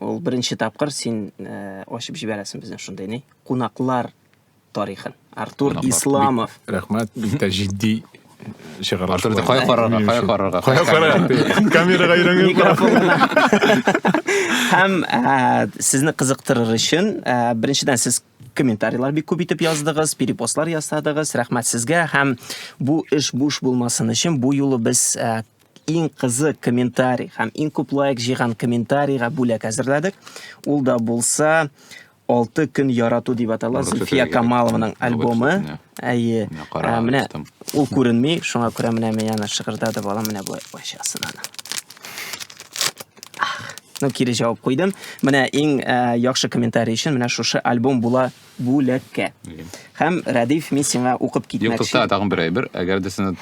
Ул беренче тапкыр син э, ачып җибәрәсең безнең шундый ни? Кунаклар тарихын. Артур Исламов. Рәхмәт, бик тә җитди чыгарылыш. Артур, кая карарга, кая карарга? Кая карарга? Камерага өйрәнгән. Һәм э, сезне кызыктырыр өчен, э, беренчедән сез комментарийлар бик күп итеп яздыгыз, перепостлар ясадыгыз. Рәхмәт сезгә һәм бу эш буш булмасын өчен бу юлы без Иң кызык комментарий һәм иң күп лайк җыйган комментарийга бүләк әзерләдек. Ул да булса алты көн ярату дип атала Зульфия Камалованың альбомы. Әйе. Ә, менә ул күренми, шуңа күрә менә мин аны шыгырдады бала менә болай ачасын аны. Ну, кире җавап куйдым. Менә иң ә, яхшы комментарий өчен менә шушы альбом була бүләккә. Һәм Рәдиф, мин сиңа укып китмәкче. Юк, тукта, тагын бер әйбер. Әгәр дә сине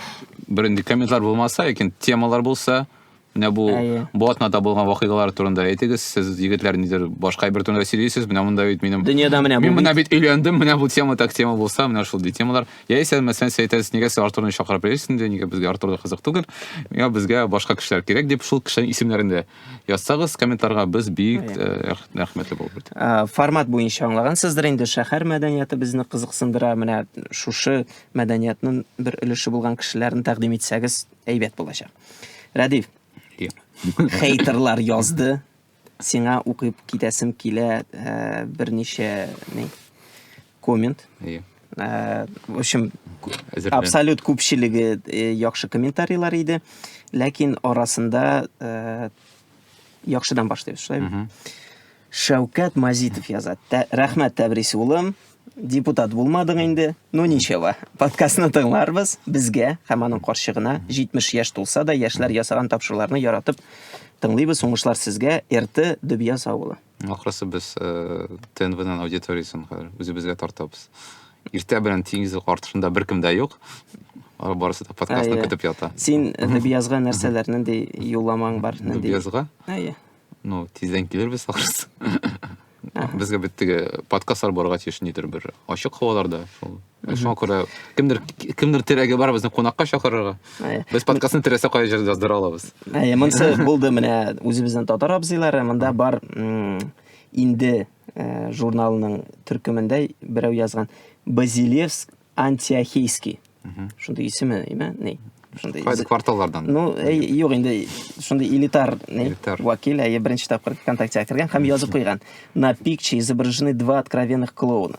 бер инде комментлар булмаса, ләкин темалар булса, менә бу бу атнада булган вакыйгалар турында әйтегез. Сез егетләр нидер башка әйбер турында сөйлисез. Менә монда бит минем Дөньяда менә бу. Мин менә бит өйләндем, менә бу тема так тема булса, менә шул ди темалар. Яисә мәсәлән, сез әйтәсез, нигә сез Артурны чакырып йөрисез инде, нигә безгә Артур да кызык түгел. Миңа безгә башка кешеләр кирәк дип, шул кешеләрнең исемнәрен дә Язсагыз комментарга без бик э, рәхмәтле булып бит. Э, формат буенча аңлагансыздыр инде шәһәр мәдәнияты безне кызыксындыра. Менә шушы мәдәниятның бер өлеше булган кешеләрне тәкъдим итсәгез әйбәт булачак. Рәдиф. Хейтерлар язды. Сиңа укып китәсем килә э, берничә ни Коммент. Әйе. Э, в общем, абсолют күпчелеге э, яхшы комментарийлар иде, ләкин арасында э, яхшыдан башлыйбыз, шулаймы? Шәүкәт Мазитов яза. Рәхмәт Тәбрис улым, депутат булмадың инде, ну ничего. Подкастны тыңларбыз, безгә һәм аның карчыгына 70 яшь тулса да, яшьләр ясаган тапшыруларны яратып тыңлыйбыз. Уңышлар сезгә, Эрте Дөбияз авылы. Ахрысы без ТНВның аудиториясен хәзер үзебезгә тартабыз. Иртә белән тигезлек артышында беркем дә юк. Алар барысы да подкастны Әйе. көтеп ята. Син Нәбиязга нәрсәләр, нинди юлламаң бар? Нинди... Нәбиязга? Әйе. Ну, тиздән килербез ахрысы. Безгә бит теге подкастлар барырга тиеш нидер бер ачык һаваларда, шул Шуңа күрә кемдер кемдер терәге бар безне кунакка чакырырга. Без подкастны теләсә кая җирдә яздыра алабыз. Әйе, монсы булды менә үзебезнең татар абзыйлары, монда бар инде э, журналының төркемендә берәү язган Базилевск Антиохийский. Шундый исеме, име? Ни? Шундый. Кайсы кварталлардан? Ну, э, юк инде, шундый элитар, ни? Элитар. Вакил, әйе, беренче тапкыр ВКонтакте кергән һәм язып куйган. На пикче изображены два откровенных клоуна.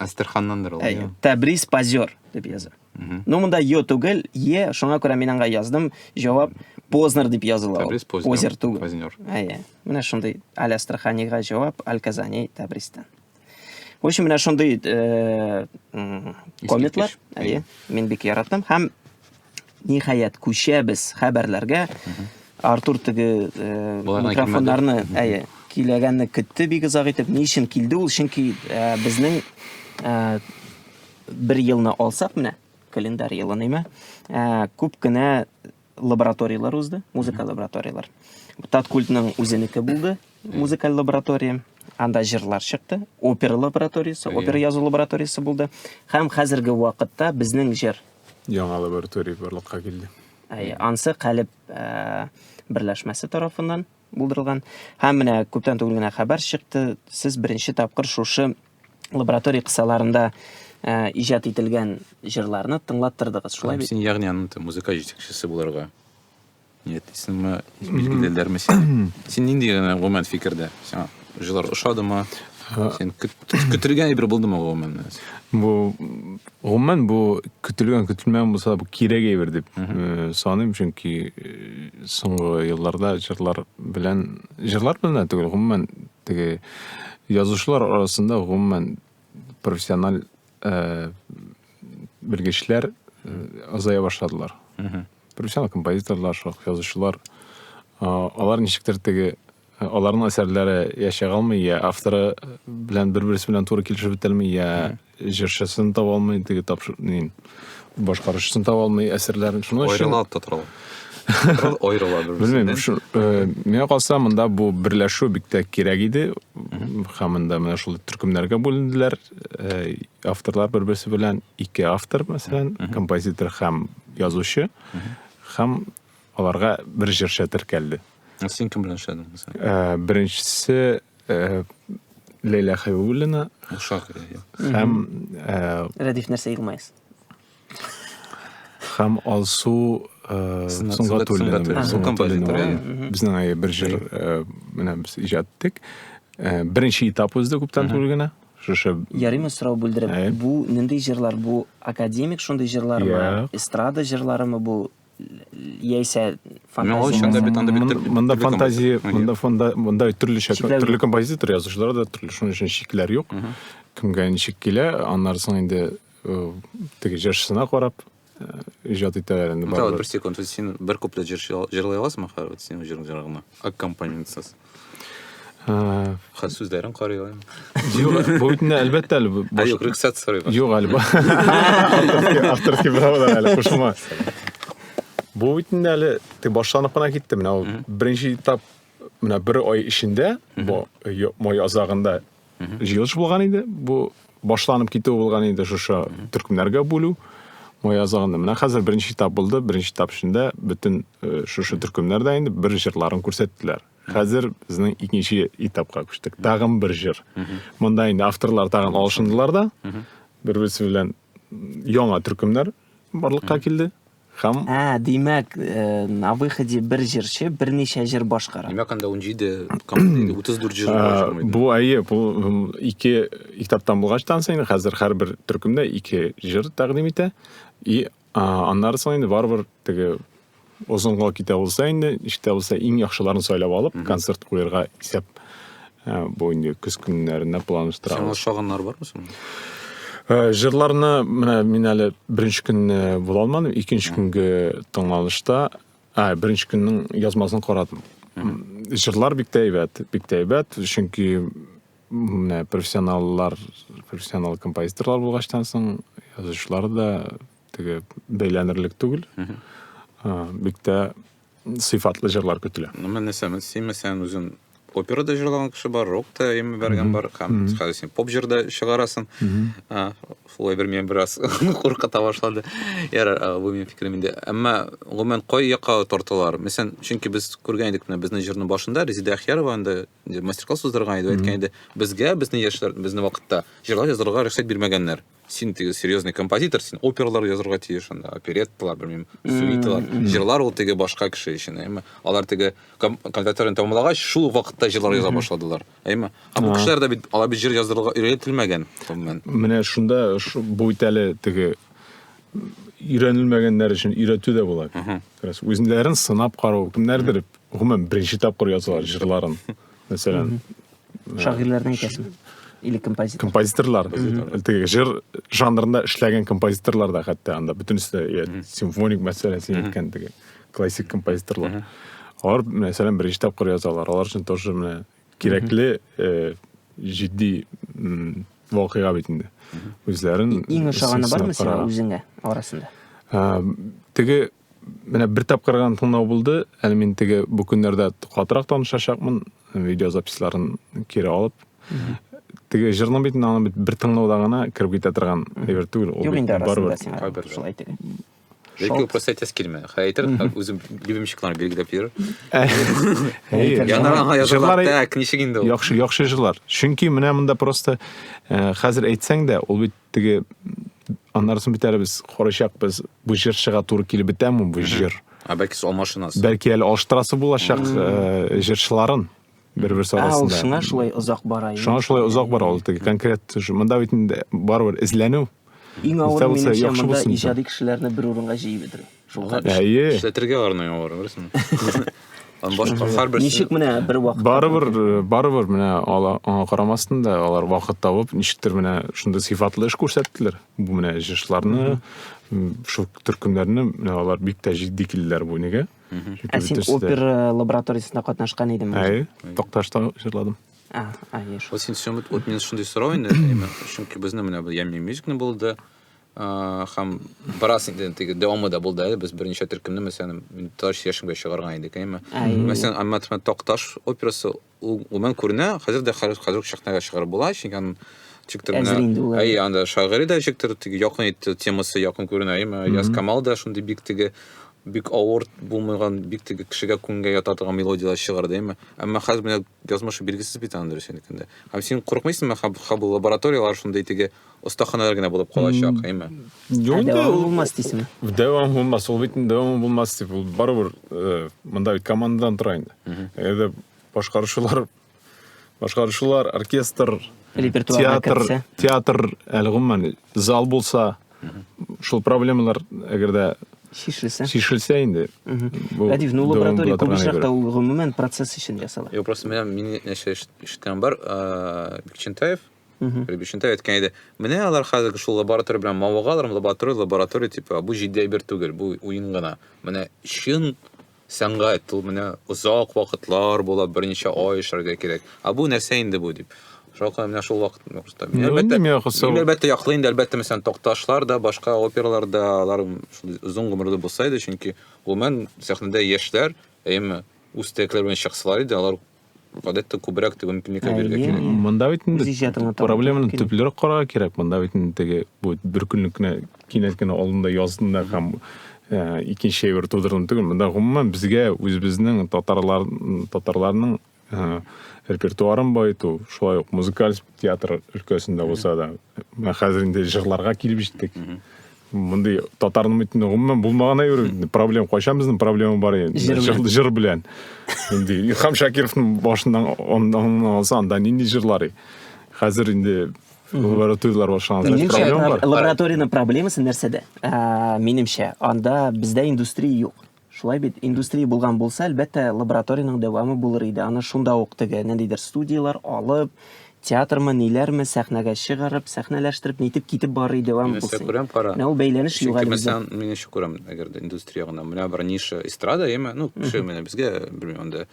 Астерханнандыр ул. Әйе. Тәбрис позер дип яза. Ну монда ё түгел, е, шуңа күрә мин аңа яздым. Җавап Познер дип языла. Тәбрис Познер. Позер түгел. Познер. Әйе. Менә шундый Аль Астраханига җавап Аль Казани Тәбристан. В общем, менә шундый э, комментар. Әйе. Мин бик яратам һәм Ниһаять, күчәбез хәбәрләргә. Артур теге э, микрофоннарны әйе, киләгәнне көтте бик озак итеп. Ни өчен килде ул? Чөнки э, безнең э, бер елны алсак менә, календарь елын име, э, күп кенә лабораторияләр узды, музыка лабораторияләр. Таткультның үзенеке булды, музыкаль лаборатория. Анда җырлар чыкты, опера лабораториясе, опера язу лабораториясе булды. Һәм хәзерге вакытта безнең җыр яңа лаборатория барлыкка килде. Ансы Калеб э, берләшмәсе тарафыннан булдырылган. Һәм менә күптән түгел генә хәбәр чыкты, сез беренче тапкыр шушы лаборатория кысаларында э, иҗат ителгән җырларны тыңлаттырдыгыз, шулай бит? Син ягъни аның музыка җитәкчесе буларга Нет, исеме билгелеләрме син? Син нинди генә гомумән фикердә? Сиңа җылар ошадымы? Син көтелгән әйбер булдымы гомумән? Бу гомумән бу көтелгән көтелмәгән булса бу кирәк әйбер дип э, саныйм, чөнки э, соңгы елларда җырлар белән җырлар белән түгел, гомумән теге язучылар арасында гомумән профессиональ э, белгечләр азая башладылар. профессионал композиторлар шулай язучылар алар ничектер теге аларның әсәрләре я чыга алмый я авторы белән бер берсе белән туры килешеп бетәлми я җырчысын таба алмый теге башкаручысын таба алмый әсәрләрен шуның өчен аерыла да тора аерыла белмим э, миңа калса монда бу берләшү бик тә кирәк иде һәм монда менә шул төркемнәргә бүленделәр э, Авторлар бер-берсе белән ике автор, мәсәлән, композитор һәм язучы, һәм аларга бер җырчы теркәлде. Ә син кем белән эшләдең мәсәлән? Э, беренчесе э, Ләйлә Хәбибуллина. Шагыйрь. Һәм э, Рәдиф нәрсә елмаесыз? һәм алсу сөнгатуллина безнең әйе бер җыр менә без иҗат иттек беренче этап узды күптән түгел генә шушы ярыймы сорау бүлдереп бу нинди җырлар бу академик шундый җырлармы эстрада җырларымы бу яисә мында фантазия мында фонда мында төрлечә төрле композитор язучылар да төрле шуның өчен чикләр юк кемгә ничек килә аннары соң инде теге җырчысына карап иҗат итәләр инде бары бер секунд син бер куплет җырлый аласыңмы хәзер вот синең җырың җыры гына аккомпанементсыз хәзер сүзләрен карый алам юк бу бит инде әлбәттә әле юк рөхсәт сорыйм юк әле авторский правалар әле кушылма бу бит инде әле тик башланып кына китте менә ул беренче этап менә бер ай эчендә май азагында җыелыш булган иде. Бу башланып китү булган инде шушы төркемнәргә бүлү. Май азагында менә хәзер беренче этап булды. Беренче этап эчендә бөтен э, шушы төркемнәр дә инде бер җырларын күрсәттеләр. Хәзер безнең икенче этапка күчтек. Тагын бер җыр. Монда инде авторлар тагын алышындылар да. Бер-берсе белән яңа төркемнәр барлыкка килде. Һәм. Ә, димәк, на выходе бер җырчы берничә җыр башкара. Димәк, анда 17 композитор, 34 җыр бар. Бу әйе, бу ике китаптан булгач та инде хәзер һәрбер төркемдә ике җыр тәкъдим итә. И аннары соң инде барыбер теге озынга китә булса инде, ишетә булса иң яхшыларын сайлап алып, концерт куярга исәп Ә, бу инде көз көннәренә планлаштырабыз. Сиңа ошаганнар бармы соң? Ә, җырларны менә мин әле беренче көнне була алмадым, икенче көнге тыңланышта, ә, беренче көннең язмасын карадым. Җырлар бик тә әйбәт, бик тә әйбәт, чөнки менә профессионаллар, профессионал композиторлар булгачтан соң язучылар да теге бәйләнерлек түгел. Бик тә сыйфатлы җырлар көтелә. Ну, мен нәсәмен симе сән үзен опера да җырлаган кеше бар, рок та ими бәргән бар, һәм хәзер син поп җыр да чыгарасын. Шулай бер мен бераз куркыта башлады. Яр, бу минем фикерем инде. Әмма гомумән кай якка тартылар? Мәсәлән, чөнки без күргән идек менә безнең җырның башында Резеда Ахьярова инде мастер-класс уздырган иде, әйткән иде, безгә, безнең яшьләр, безнең вакытта җырлар язарга рөхсәт бирмәгәннәр. сен теге серьезный композитор сен оперлар язырга тиеш анда оперетталар белмим сюиталар жырлар ул теге башка кеше өчен әйме алар теге консерваторияны тәмамлагач шул вакытта жырлар яза башладылар әйме ә бу кешеләр дә бит алар бит жыр язырга өйрәтелмәгән гомумән менә шунда бу бит әле теге өйрәнелмәгәннәр өчен өйрәтү дә була үзләрен сынап карау кемнәрдер гомумән беренче тапкыр язалар жырларын мәсәлән шагыйрьләрнең әйтәсең или композитор композиторлар теге жыр жанрында эшләгән композиторлар да хәтта анда бөтенесе иә симфоник мәсәлән син әйткән теге классик композиторлар алар мәсәлән беренче тапкыр язалар алар өчен тоже менә кирәкле э, җитди вакыйга бит инде үзләрен иң ошаганы бармы сиңа үзеңә арасында теге Менә бер тапкыр гына тыңлау булды. Әле мин теге бу көннәрдә катырак танышачакмын, видеозаписьларын кире алып. Теге җырның бит аны бит бер тыңлауда гына кереп китә торган әйбер түгел. Юк инде арасында сиңа. Шулай әйтә. Ләкин просто әйтәсе килмә. Хәй әйтер, үзем любимчикларны билгеләп йөр. Яңаранга язылар, так, ничек инде ул? Яхшы, яхшы җырлар. Чөнки менә монда просто хәзер әйтсәң дә, ул бит Теге аннары соң бит әле без карачакбыз, бу җырчыга туры килеп бетәме бу җыр? Ә бәлки сез алмашынасыз? Бәлки әле алыштырасы булачак э, җырчыларын бер-берсе Ә ул арасында. шуңа шулай озак бара. инде. Шуңа шулай озак бара ул теге конкрет. ш- Монда бит инде барыбер эзләнү. Иң авыры Үтә булса, минемчә яхшы монда булсын. иҗади кешеләрне бер урынга җыеп бетерү. Шуңа эшләтергә аларны яңалар, беләсеңме? Аны башка һәрберсе Ничек менә бер вакыт Барыбер, э, барыбер менә ала аңа карамастан да алар вакыт табып, ничектер менә шундый сыйфатлы эш күрсәттеләр. Бу менә җышларны, шул төркемнәрне менә алар бик тә җитди килделәр бу нигә. Ә син опера лабораториясендә катнашкан идең? Әй, Токташта җырладым. А, а, яшь. Вот син вот мен шундый сорау инде, чөнки безне менә бу Ямми мюзикны булды. Хәм барас инде теге дәвамы да булды әле без берничә төркемне мәсәлән таш яшенбә чыгарган идек әйме мәсәлән әмма тмәт такташ операсы ул гомән күренә хәзер дә хәзер хәзер шәхнәгә чыгарып була чөнки аның чиктер менә әй анда шагыйрь дә чиктер теге якын итте темасы якын күренә әйме яз камал да шундый бик теге бик авыр булмаган бик теге кешегә күңгә ята торган мелодияләр чыгарды әйме әмма хәзер менә язмышы билгесез бит аны дөрес әйткәндә һәм син курыкмыйсыңмы хаб хаб лабораторияләр шундый теге остаханәләр генә булып калачак, әйме? Юк, дәвам булмас дисеме? Дәвам булмас, ул бит дәвам булмас дип, ул барыбер э, монда бит командадан тора инде. Әгәр башкаручылар башкаручылар, оркестр, театр, театр әле гомумән зал булса, шул проблемалар әгәр дә шешелсә шешелсә инде радив ну лаборатория күп очракта ул гомумән процесс өчен ясала юк просто менә мин нәрсә ишеткән бар бекчентаев Рибишенте әйткән иде. Менә алар хәзерге шул лаборатория белән мавыгалар, лаборатория, лаборатория дип, бу җитди әйбер түгел, бу уен гына. Менә чын сәнгать, ул менә озак вакытлар була, берничә ай эшләргә кирәк. А бу нәрсә инде бу дип. Шулай менә шул вакыт нокта. Мин әлбәттә, мин әлбәттә яклый инде, әлбәттә, мәсәлән, Токташлар да, башка опералар да, алар шул озын гомерле булса иде, чөнки гомумән сәхнәдә яшьләр, әйеме, үз теләкләре белән чыксалар иде, алар Вот это күбрәк теге мөмкинлеккә Әйе. бирергә кирәк. М, Монда бит инде Үз иҗатыңа таба проблеманы мөмкин. төплерәк карарга кирәк. Монда бит инде теге бу бер көнлек кенә кинәт кенә алдында яздында һәм э, икенче әйбер тудырдым түгел. Монда гомумән безгә үзебезнең татарлар татарларның э, репертуарын баету, шулай ук музыкаль театр өлкәсендә булса да, Менә хәзер инде җырларга килеп җиттек. Мондый татарның бит гомумән булмаган әйбер. Проблем кайчан безнең проблема бар инде. Җыр, җыр белән. Инде Илхам Шакировның башыннан оннан алса, анда нинди җырлар? Хәзер инде лабораторияләр башланган. Минемчә, лабораториянең проблемасы нәрсәдә? Ә, минемчә, анда бездә индустрия юк. Шулай бит, индустрия булган булса, әлбәттә, лабораториянең дәвамы булыр иде, аны шунда ук теге, ниндидер студияләр алып, театрмы, ниләрме, сәхнәгә чыгарып, сәхнәләштереп, нитеп китеп барыр иде, дәвамы Мин булса күрәм, кара. Менә ул бәйләнеш юк әле бездә. Мин ничек күрәм, әгәр дә индустрия гына, менә бер ниша эстрада, яме, ну, кеше менә безгә, белмим, анда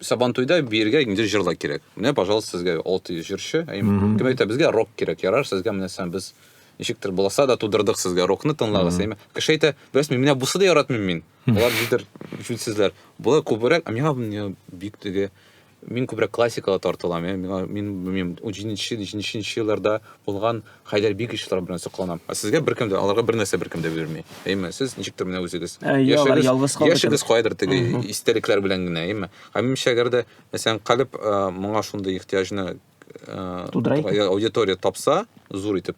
Сабантуйда биергә инде җырлар кирәк. Менә, пожалуйста, сезгә 600 җырчы. Ә кем әйтә, безгә рок кирәк. Ярар, сезгә менә сән без ничектер буласа да тудырдык сезгә рокны тыңлагыз. Әйме? Кеше әйтә, бәс мин менә бусы да яратмыйм мин. Алар дидер җүнсезләр. Болар күбрәк, ә миңа бик теге мин күбрәк классикага тартылам. Миңа мин белмим, 17-нче, 17-нче елларда булган Хәйдәр бик ишетләр белән сокланам. Ә сезгә беркем дә, аларга бернәрсә беркем дә бирми. Әйме, сез ничектер менә үзегез. Ә, я, алар ялгыз калды Яшегез кебек. кайдыр теге истәлекләр белән генә, әйме. Ә минемчә, әгәр дә, мәсәлән, калеб э, моңа шундый ихтыяҗны э, Тудыра икән. я- аудитория тапса, зур итеп,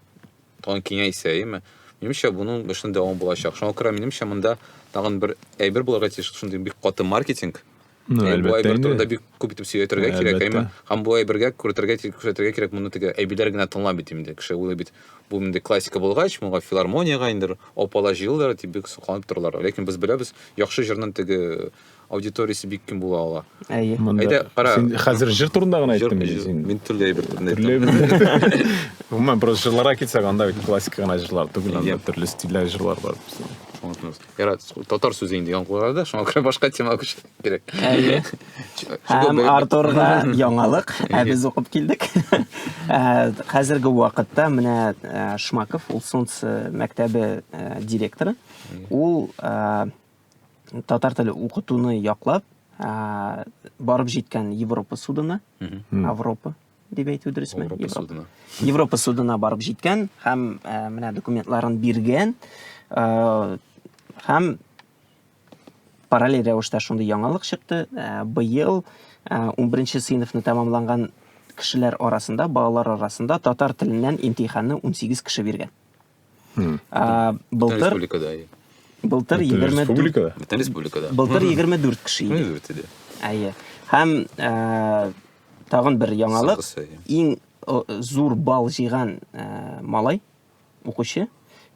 тагын киңәйсә, әйме. Минемчә, буның эшен дәвам булачак. Шуңа күрә минемчә, монда тагын бер әйбер булырга тиеш, шундый бик каты маркетинг, Ну, Ә әлбәттә Буайбер инде. турында бик күп итеп сөйләтергә кирәк, Әлбәттә. әйме? Һәм Буайбергә күрәтергә, күрсәтергә кирәк моны теге әйбиләр генә тыңлап бит инде. Кеше уйлый бит, бу инде классика булгач, моңа филармониягә инде опала җыелдылар дип бик сокланып торалар. Ләкин без беләбез, яхшы җырның теге аудиториясе бик киң була ала. Әйе. Монда- Әйдә, кара. Син хәзер җыр турында гына Җыр- әйттең инде җыр- син. Мин төрле әйбер турында Төрле әйттем. әйбер. Гомумән, просто җырларга килсәк, анда бит классика гына җырлар түгел, анда Иә. төрле стильдәге җырлар бар. Аңлатмас. Ярат, татар сүзе инде яңгырады да, шуңа күрә башка тема күчәргә кирәк. Әйе. Һәм Артурга яңалык, ә без укып килдек. Э, хәзерге вакытта менә э, Шмаков, ул Солнце мәктәбе э, директоры. Ул татар теле укытуны яклап, барып җиткән Европа судына, Европа дип әйтү дөресме? Европа судына. Европа судына барып җиткән һәм э, менә документларын биргән э, һәм параллель рәвештә шундый яңалык чыкты. Э, быел 11 сыйныфны тәмамланган кешеләр арасында, балалар арасында татар теленнән имтиханны 18 кеше биргән. Хм. А, былтыр республикада. Былтыр 24 республикада. Бүтән республикада. Былтыр 24 кеше иде. 24 иде. Әйе. Һәм ә, тагын бер яңалык. Иң зур бал җыйган ә, малай укучы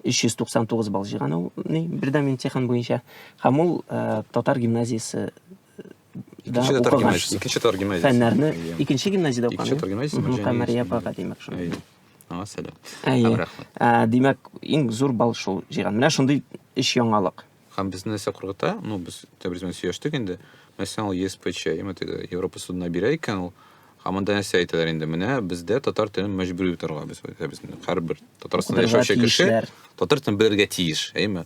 399 бал җыйган ул ни бердәм имтихан буенча. Һәм ул ә, татар гимназиясе да икенче татар гимназиясе икенче татар гимназиясе фәннәрне икенче гимназияда укыган икенче татар гимназиясе мөхәммәдия апага димәк шул аңа сәлам әйе ә, димәк иң зур балл шул җыйган менә шундый өч яңалык һәм безне нәрсә куркыта ну без тәбриз белән сөйләштек инде мәсәлән ул еспч европа судына бирә икән ул һәм анда нәрсә әйтәләр инде менә бездә татар телен мәҗбүри торга без әйтәбез һәрбер татарстанда яшәүче кеше татар телен белергә тиеш әйеме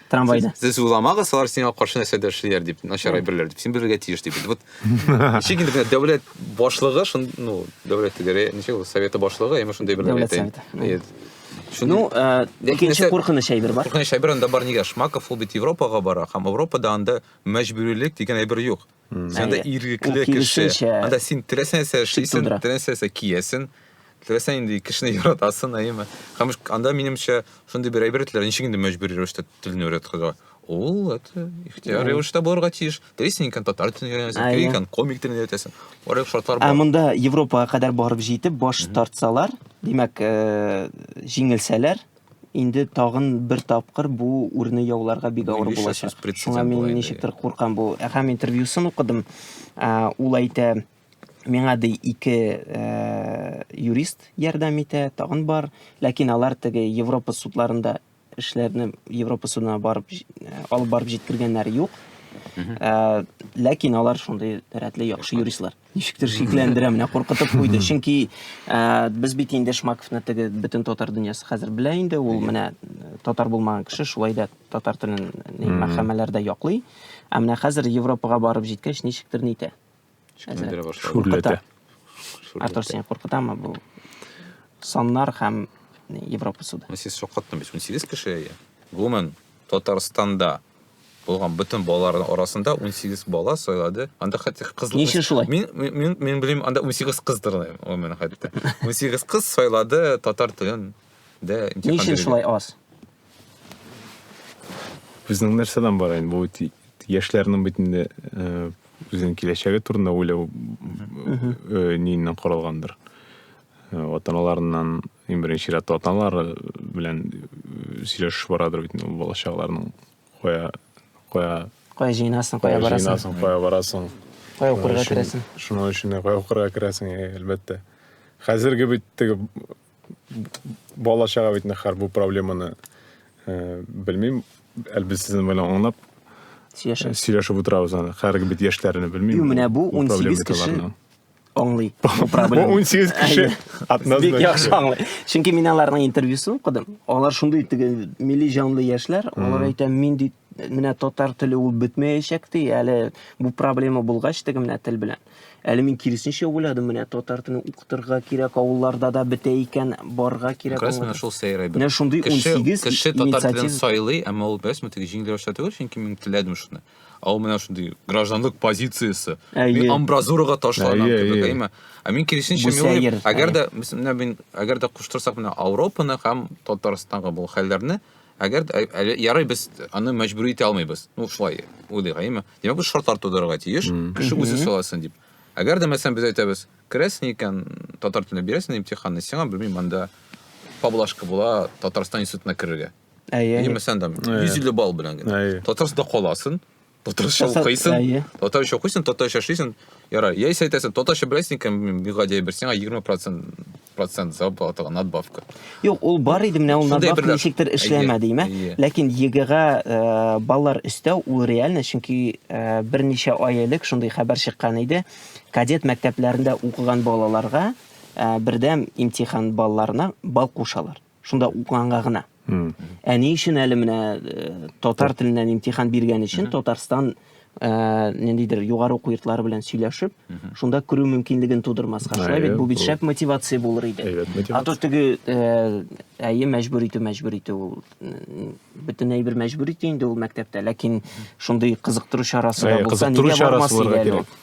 трамвайда. Сез уйламагыз, алар сиңа каршы нәрсә дә эшлиләр дип, начар әйберләр дип. Син белергә тиеш дип. Вот ничек инде дәүләт башлыгы, шун, ну, дәүләт дигәре, ничек ул советы башлыгы, яме шундый бер дәүләт советы. Ну, э, икенче куркыныч әйбер бар. Куркыныч әйбер анда бар нигә? Шмаков ул бит Европага бара, һәм Европада анда мәҗбүрилек дигән әйбер юк. Анда иргекле кеше. Анда син теләсә нәрсә эшлисең, теләсә нәрсә киясең. Теләсә инде кешене яратасың, әйеме? Һәм анда минемчә шундый бер әйбер ителә, ничек инде мәҗбүри рәвештә телне өйрәтергә. Ул это ихтияр рәвештә булырга тиеш. Телисең икән татар телен өйрәнәсең, телисең икән комик телен өйрәтәсең. Барлык шартлар бар. Ә монда Европага кадәр барып җитеп баш тартсалар, димәк, җиңелсәләр, Инде тагын бер тапкыр бу үрне яуларга бик авыр булачак. Шуңа мин ничектер куркам бу. Һәм интервьюсын укыдым. Ул әйтә, миңа ди ике э, юрист ярдәм итә, тагын бар, ләкин алар теге Европа судларында эшләрне Европа судына барып э, алып барып җиткергәннәр юк. Э, ләкин алар шундый рәтле яхшы юристлар. Ничектер шикләндерә, менә куркытып куйды. Чөнки ә, без бит инде Шмаковны теге бөтен татар дөньясы хәзер белә инде. Ул менә э, татар булмаган кеше шулай да татар телен ни, мәхәмәләрдә яклый. Ә менә хәзер Европага барып җиткәч ничектер нитә. Шикләндерә башлады. Шүрләтә. Артур сине куркытамы бу? Саннар һәм ни, Европа суды. Сез шаккаттым бит. 18 кеше. Гомумән Татарстанда булган бөтен балаларның арасында 18 бала сайлады. Анда хәтта кызлар Ни өчен шулай? Мин мин мин белим, анда 18 кыздыр ул менә хәтта. 18 кыз сайлады татар телен. Дә Ни өчен шулай аз? Безнең нәрсәдән бар инде бу яшьләрнең бит инде э, үзенең киләчәге турында уйлау э, ниеннән корылгандыр. Э, ата-аналарыннан Иң беренче рәттә аталары белән э, сөйләшү барадыр бит инде бала чагаларның кая кая кая җыенасың, кая барасың? Җыенасың, кая барасың? Кая укырга керәсең? Шуның өчен дә кая укырга керәсең, э, әлбәттә. Хәзерге бит теге бала чага бит нәхәр бу проблеманы э, белмим, әлбәттә сезнең белән аңлап сөйләшеп э, сөйләшеп утырабыз аны. Хәзерге бит яшьләрне белмим. Менә бу 18 кеше аңлый. Бу 18 кеше атназдан. Бик яхшы аңлый. Чөнки мин аларның интервьюсын укыдым. Алар шундый теге милли җанлы яшьләр. Алар әйтә, мин ди менә татар теле ул бетмәячәк ди. Әле бу проблема булгач теге менә тел белән. Әле мин киресенчә уйладым, менә татар телен укытырга кирәк, авылларда да бетә икән, барга кирәк. Кайсы менә шул сәйрәй бит. Менә шундый 18 кеше татар телен сайлый, әмма ул бәс мөтиге җиңел рәвештә түгел, чөнки мин теләдем шуны. ал менә шундый гражданлык позициясе мин амбразурага ташланам кебек әйме ә мин киресенчә әгәр дә менә мин әгәр дә куштырсак менә ауропаны һәм татарстанга бу хәлләрне әгәр әле ярый без аны мәҗбүри итә алмыйбыз ну шулай уйлыйк әйме димәк без шартлар тудырырга тиеш кеше үзе сайласын дип әгәр дә мәсәлән без әйтәбез керәсең икән татар телендә бирәсең имтиханны сиңа белмим анда поблажка була татарстан институтына керергә Әйе. Әйе. Мәсәлән, там 150 балл белән генә. Әйе. Татарстанда каласың, татарча укыйсың, әйе. татарча укыйсың, татарча эшлисең. Ярар, яисә әйтәсең, татарча беләсең икән, бигадия бер сиңа 20% процент зарплатага надбавка. Юк, ул бар иде, менә ул надбавка ничектер эшләмәде, имә. Ләкин ЕГЭга э, баллар өстәү ул реально, чөнки э, берничә ай элек шундый хәбәр чыккан иде. Кадет мәктәпләрендә укыган балаларга э, бердәм имтихан балларына бал кушалар. шунда укыганга гына ә ни өчен әле менә э, татар теленнән имтихан биргән өчен татарстан ә, ниндидер югары уку йортлары белән сөйләшеп шунда керү мөмкинлеген тудырмаска шулай бит бу бит шәп мотивация булыр иде а то теге э, әйе мәҗбүр итү мәҗбүр итү ул бөтенләй бер мәҗбүр итү инде ул мәктәптә ләкин шундый кызыктыру чарасы да булса нигә бармас иде әле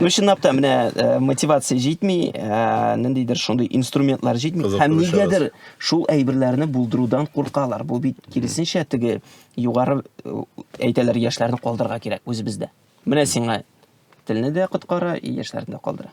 ну чынлап та менә э, мотивация җитми э, ниндидер шундый инструментлар җитми һәм нигәдер шул әйберләрне булдырудан куркалар бу бит киресенчә теге югары э, әйтәләр яшьләрне калдырырга кирәк үзебездә менә сиңа телне дә коткара яшьләрне дә калдыра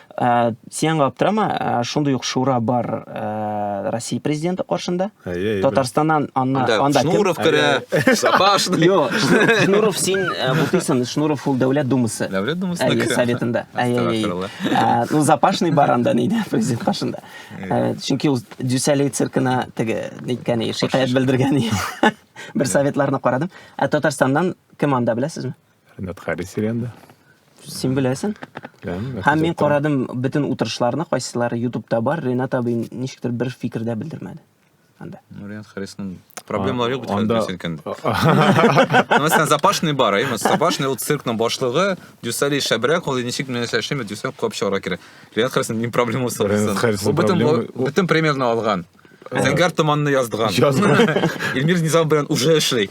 Ә, сен аңа аптырама, ә, шундый ук шура бар ә, Россия президенты каршында. Әйе, әйе, Татарстаннан анна, Анда анда кем? Шнуров керә, Сапашный. Йо, Шнур- Шнуров син ә, бутыйсың, Шнуров ул дәүләт думасы. Дәүләт Думасына Әйе, керә. советында. Әйе, әйе. Астагфирулла. Ә, Ну, запашный бар анда нидә, президент каршында. Ә, Чөнки ул Дюсалей циркына теге, ниткән, шикаять белдергән. Бер советларны карадым. Ә Татарстаннан кем анда, беләсезме? Ренат Харис Сиренда. Син беләсең? Һәм мин карадым бөтен утырышларны, кайсылары ютубта бар, Ренат абый ничектер бер фикер дә белдермәде. Анда. Ну, Ренат Харисның проблемалары юк бит хәзер синкен. Мәсәлән, Запашный бар, әйме, Запашный ул циркның башлыгы, Дюсали шәбрәк, ул ничек менә эшләшеме, Дюсали куып чыгарга кирәк. Ренат Харисның ни проблемасы бар? Бөтен бөтен премьерны алган. Зәңгәр томанны яздыган. Яздыган. Эльмир Низам белән уже эшли.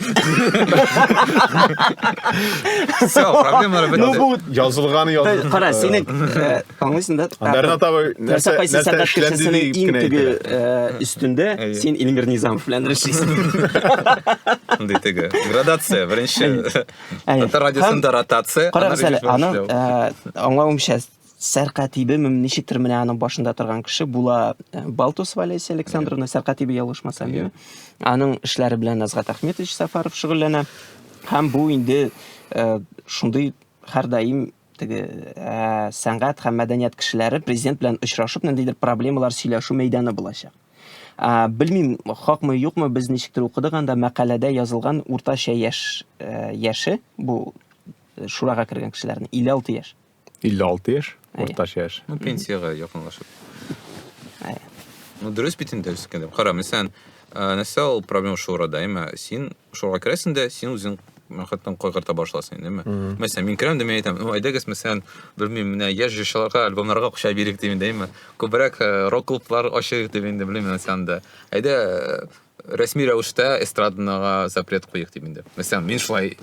Все, проблемалар бетте. Ну бу язылган язылган. Кара, сине аңлыйсың да? Андарна табы нәрсә кайсы сәнгать кешесенең иң теге өстендә син Эльмир Низамов белән эшлисең. Ди теге. Градация беренче. Татар радиосында ротация. Кара, аның аңлавымча Сәркатибе, ничектер менә аның башында торган кеше була э, Балтусова Олеся Александровна, Сәркатибе ялгышмасам, yeah. аның эшләре белән Азгат Ахметович Сафаров шөгыльләнә. Һәм бу инде э, шундый һәрдаим теге ә, сәнгать һәм мәдәният кешеләре президент белән очрашып ниндидер проблемалар сөйләшү мәйданы булачак ә, белмим хакмы юкмы без ничектер укыдык анда мәкаләдә язылган уртача яшь ә, яше бу шурага кергән кешеләрнең 56 яшь 56 яшь, уртача яшь. Ну, пенсиягә якынлашып. Әйе. Ну, дөрес бит инде үскәндә. Кара, мәсәлән, ә, нәрсә ул проблема шурада, әмма син шурага керәсең дә, син үзең мәхәттән кайгырта башласын, әйдәме? Мәсәлән, мин керәм дә мин әйтәм, ну, әйдәгез, мәсәлән, белмим, менә яшь җырчыларга альбомнарга акча бирик дип инде, әйдәме? Күбрәк э, рок-клублар ачыйк дип инде, белмим, мәсәлән, дә. Әйдә, э, рәсми рәвештә эстрадага запрет куйыйк дим инде. Мәсәлән, мин шулай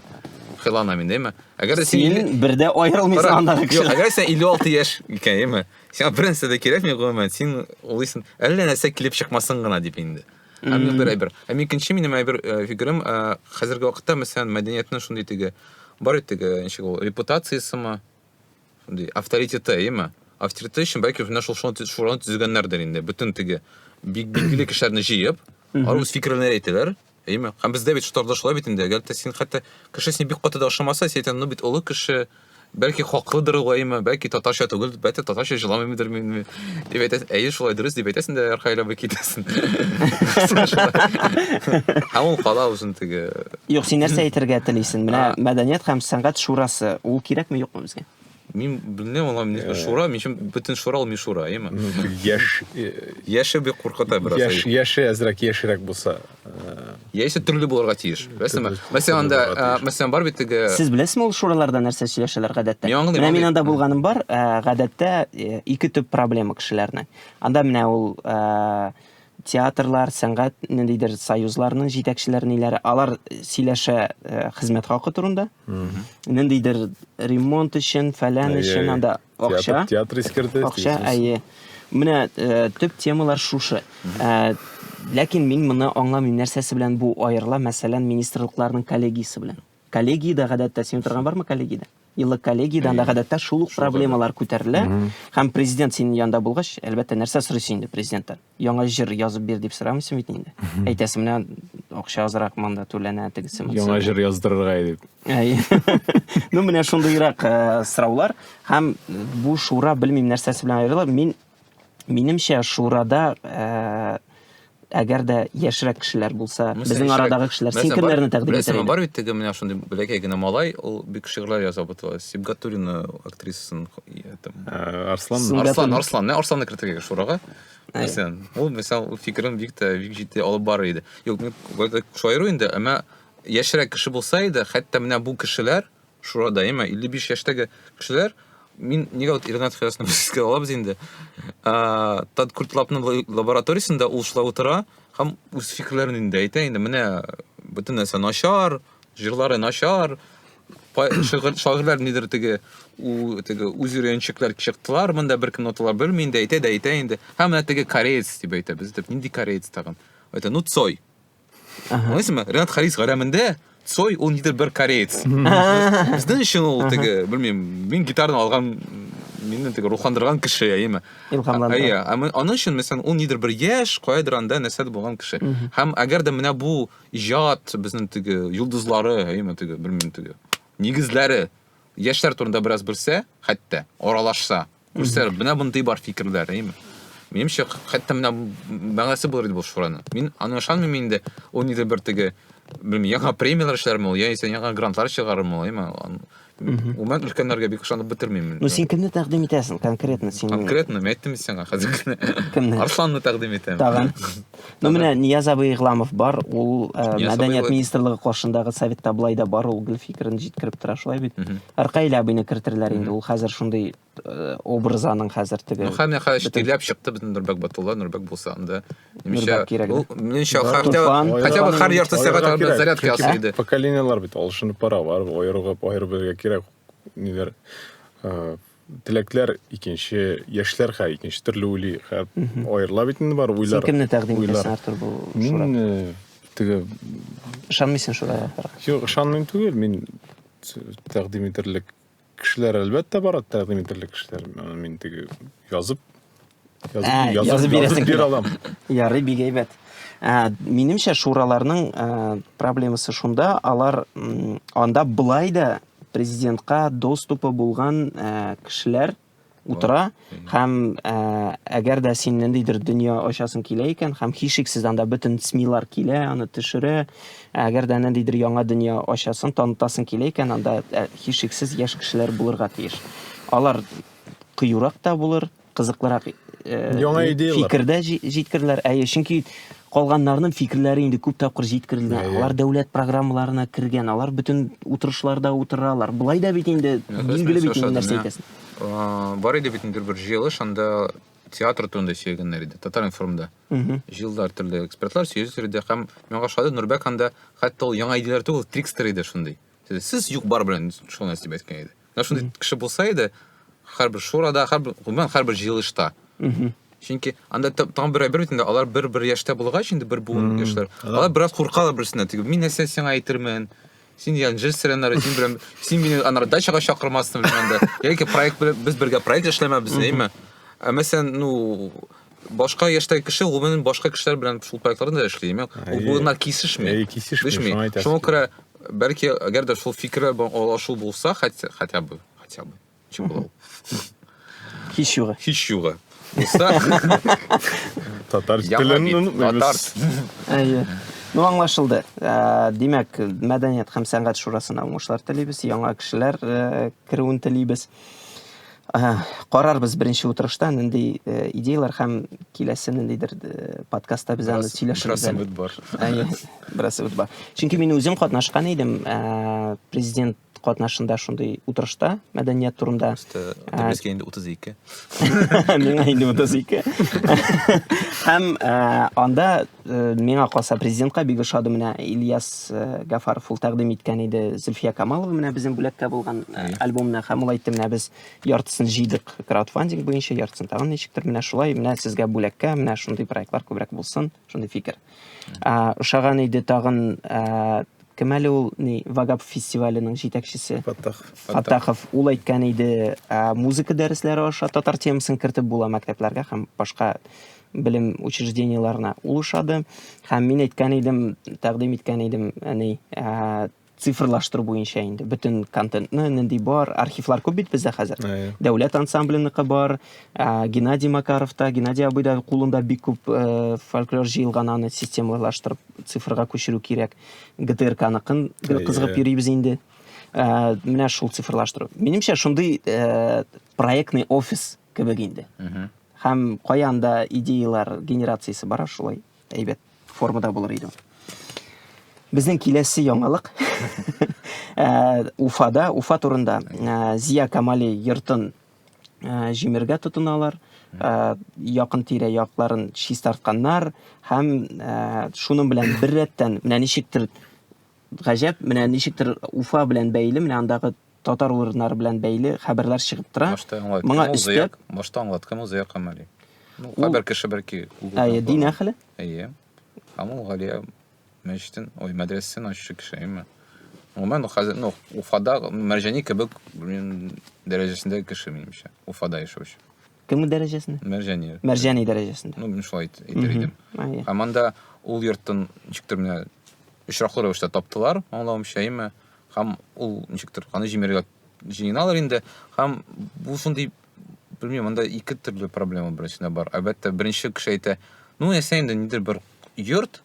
хыялланам инде, әйме? Әгәр дә син... Син бердә аерылмыйсың андагы Юк, кешедән. әгәр син 56 яшь икән, әйме? Сиңа бернәрсә дә кирәкми, гомумән, син улыйсың, әллә нәрсә килеп чыкмасын гына дип инде. Һәм мин бер әйбер. Һәм икенче минем әйбер э, фикерем, э, хәзерге вакытта, мәсәлән, мәдәниятнең шундый теге, бар бит теге, ничек ул, репутациясеме, шундый авторитеты, әйеме? Авторитеты өчен бәлки үзенә шул шуны шураны төзегәннәрдер инде. Бөтен теге бик билгеле кешеләрне җыеп, алар үз фикерләре әйтәләр. Әйеме? Һәм бездә бит штабда шулай бит инде. Әгәр дә син хәтта кеше син бик каты да ошамаса, син әйтәң, ну бит олы кеше, бәлки хаклыдыр ул, әйеме? Бәлки татарча түгел, бәлки татарча җыламыйдыр мени. Дип әйтәсең, әйе, шулай дөрес дип әйтәсең дә арка әйләнеп китәсең. Һәм ул кала үзен теге. Юк, син нәрсә әйтергә телисең? Менә мәдәният һәм сәнгать шурасы, ул кирәкме юкмы безгә? Мин белмим, ала мин э. шура, мин чын бүтән шура ул мишура, әйме? Яш э, яше бик куркыта бераз. Яш яше әзрәк яшерәк булса. Яисә төрле булырга тиеш. Беләсеңме? Мәсәлән, анда, мәсәлән, бар бит теге Сез беләсезме ул шураларда нәрсә сөйләшәләр гадәттә? Мин аңлыйм. Менә мин анда булганым бар, гадәттә ике төп проблема кешеләрнең. Анда менә ул театрлар, сәнгать ниндидер союзларның җитәкчеләре ниләре, алар сөйләшә хезмәт хакы турында. Ниндидер ремонт өчен, фәлән өчен анда Акча. Театр искерде. Акча, әйе. Менә э, төп темалар шушы. Э, ләкин мин моны аңламыйм, нәрсәсе белән бу аерыла, мәсәлән, министрлыкларның коллегиясе белән. Коллегиядә гадәттә син торган бармы коллегиядә? Елы коллегиядә анда гадәттә шул ук проблемалар күтәрелә. Һәм президент синең янда булгач, әлбәттә, нәрсә сорыйсың инде президенттан? яңа җыр язып бир дип сорамыйсың бит инде. Әйтәсең менә акча азрак монда түләнә тегесе монысы. Яңа җыр яздырырга дип. Ну менә шундыйрак э, сораулар һәм бу шура белмим нәрсәсе белән аерыла. Мин минемчә шурада э, әгәр дә яшьрәк кешеләр булса, безнең арадагы кешеләр син кемнәрне тәкъдим итәр идең? Бар бит теге менә шундый бәләкәй генә малай, ул бик шигырьләр яза бутыла. Сибгатуллина актрисасын э, Арслан Арслан Арслан, менә Арсланны кертергә шурага. нәрсә ул мисал ул фикерен бик тә бик җитди алып барыр иде юк мин шаяру инде әмма яшьрәк кеше булса иде хәтта менә бу кешеләр шурада әмма 55 яшьтәге кешеләр мин нигә вот Ренат Хәясны искә алабыз инде. Ә, Тад Куртлапның лабораториясендә ул шулай утыра һәм үз фикерләрен инде әйтә инде. Менә бөтен нәрсә начар, Җырлары начар, шигырь шагыйрьләр нидер теге теге үз өйрәнчекләр чыктылар монда беркем ноталар белми инде әйтә дә әйтә инде һәм менә теге кореец дип әйтә без дип нинди кореец тагын это ну цой аңлыйсыңмы ренат харис гарәмендә цой ул нидер бер кореец безнең өчен ул теге белмим мин гитараны алган мине теге рухландырган кеше әйеме илһамландырган әйе аның өчен мәсәлән ул нидер бер яшь каядыр анда нәрсәдер булган кеше һәм әгәр дә менә бу иҗат безнең теге йолдызлары әйме теге белмим теге нигезләре яшьләр турында бераз белсә хәтта аралашса күрсә менә мондый бар фикерләр әйме минемчә хәтта менә мәгънәсе булыр иде бу шураның мин аны ышанмыйм инде ул нидер бер теге белмим яңа премияләр эшләрме ул яисә яңа грантлар чыгарырмы ул әйме Гомумән өлкәннәргә бик ышанып бетермим. Ну син кемне тәкъдим итәсең конкретно син? Конкретно мин әйттем сиңа хәзер генә. Кемне? Арсланны тәкъдим итәм. Тагын. Ну менә Нияз абый Игламов бар, ул э, мәдәният министрлыгы каршындагы советта болай да бар, ул гел фикерен җиткереп тора, шулай бит. Ркаил абыйны кертерләр инде, ул хәзер шундый Э, образ аның хәзер теге ну һәм яха эштеләп чыкты бөтен нурбәк батулла нурбәк булса анда ниша ул ниша хәртә хотя бы хәр ярты сәгать анда зарядка ясый иде поколениялар бит алышынып бара бар аерылып аерып бергә кирәк ниләр э, теләкләр икенче яшьләр хәр икенче төрле уйлый хәр аерыла бит инде бар уйлар син кемне тәкъдим итәсең артур бу мин э, теге ышанмыйсың шурага юк ышанмыйм түгел мин тәкъдим итерлек Кешеләр әлбәттә бар тәкъдим ителерлек кешеләр. Аны мин теге язып язып, ә, язып, язып, язып бир алам. Ярый, бик әйбәт. Ә, минемчә шураларның ә, проблемасы шунда, алар анда былай да президентка доступы булган ә, кешеләр утыра һәм ә, әгәр дә син ниндидер дөнья ачасың килә икән һәм һичшиксез анда бөтен смилар килә аны төшерә әгәр дә ниндидер яңа дөнья ачасың танытасың килә икән анда ә, һичшиксез яшь кешеләр булырга тиеш алар кыюрак та булыр кызыклырак э, яңа идеялар фикердә җиткерделәр әйе чөнки калганнарның фикерләре инде күп тапкыр җиткерелгән алар дәүләт программаларына кергән алар бөтен утырышларда утыралар былай да бит инде билгеле бит нәрсә әйтәсең бар иде бит инде бер җыелыш анда театр турында сөйләгәннәр иде татар информда җыелдылар төрле экспертлар сөйләделәр иде һәм миңа ошады нурбәк анда хәтта ул яңа идеяләр түгел трикстер иде шундый сез юк бар белән шул нәрсә дип әйткән иде менә шундый кеше булса иде һәрбер шурада һәрбер гомумән һәрбер җыелышта чөнки анда тагын бер әйбер бит инде алар бер бер яшьтә булгач инде бер буын яшьләр алар бераз куркалар берсеннән теге мин нәрсә сиңа әйтермен Син дигән җыр сиреннары, син белән, син мине анар дачага чакырмассың белән дә. Яки проект белән без бергә проект эшләмәбез, әйме? Ә мәсәлән, ну, башка яшьтәге кеше гомумән башка кешеләр белән шул проектларда да эшли, әйме? Ул буена кисешми. Әй, кисешми, шуңа әйтәсең. Шуңа күрә бәлки әгәр дә шул фикерләр белән алашу булса, хотя бы, хотя бы. Чем была? Hiç yuva. Hiç yuva. Татар телен татар. Әйе. Ну, аңлашылды. Ә, димәк, мәдәният һәм сәнгать шурасына уңышлар телибез, яңа кешеләр э, керүен телибез. Ә, карарбыз беренче утырышта нинди э, идеялар һәм киләсе ниндидер э, подкастта без аны сөйләшербез. Бераз бар. Әйе, бераз бар. Чөнки мин үзем катнашкан идем, президент катнашында шундый утырышта мәдәният турында безгә инде утыз ике миңа инде утыз ике һәм анда миңа калса президентка бик ошады менә ильяс гафаров ул тәкъдим иткән иде зөлфия камалова менә безнең бүләккә булган альбомны һәм ул әйтте менә без яртысын җыйдык краудфандинг буенча яртысын тагын ничектер менә шулай менә сезгә бүләккә менә шундый проектлар күбрәк булсын шундый фикер ә, ошаган иде тагын ә, кем әле ул ни вагап фестиваленең җитәкчесе фаттах фаттахов ул әйткән иде ә, музыка дәресләре аша татар темасын кертеп була мәктәпләргә һәм башка белем учреждениеларына ул ошады һәм мин әйткән идем тәкъдим иткән идем әни ә, цифрлаштыру буенча инде бөтен контентны нинди бар архивлар күп бит бездә хәзер дәүләт ансамбленыкы бар ә, геннадий макаровта геннадий абый да кулында бик күп ә, фольклор җыелган аны системалаштырып цифрга күчерү кирәк гтркныкын кызыгып йөрибез инде ә, менә шул цифрлаштыру минемчә шундый ә, проектный офис кебек инде һәм каян да идеялар генерациясе бара шулай әйбәт формада булыр иде. Безнең киләсе яңалык э, Уфада, Уфа турында э, Зия Камали йортын э, җимергә тотыналар. Якын тирә якларын чистартканнар һәм шуның белән беррәттән менә ничектер гаҗәп, менә ничектер Уфа белән бәйле, менә андагы татар урыннары белән бәйле хәбәрләр чыгып тора. Башта аңлат. Моңа өстәп, башта аңлат, кем Зыя Камали? Ну, хәбәр кеше бәлки Google. Әйе, дин әхле. Әйе. Амул Галия мәчетен, ой, мәдрәсәсен ачучы кеше, әйеме? Гомумән, хәзер, ну, Уфада Мәрҗани кебек, блин, дәрәҗәсендәге кеше, минемчә. Уфада яшәүче. Кемге дәрәҗәсендә? Мәрҗани. Мәрҗани дәрәҗәсендә. Ну, мин шулай әйтер идем. Һәм анда ул йорттан ничектер менә очраклы рәвештә таптылар, аңлавымча, әйме? Һәм ул ничектер аны җимерергә җыеналар инде. Һәм бу шундый белмим, анда ике төрле проблема беренчедә бар. Әлбәттә, беренче кеше әйтә, ну, ясә инде нидер бер йорт,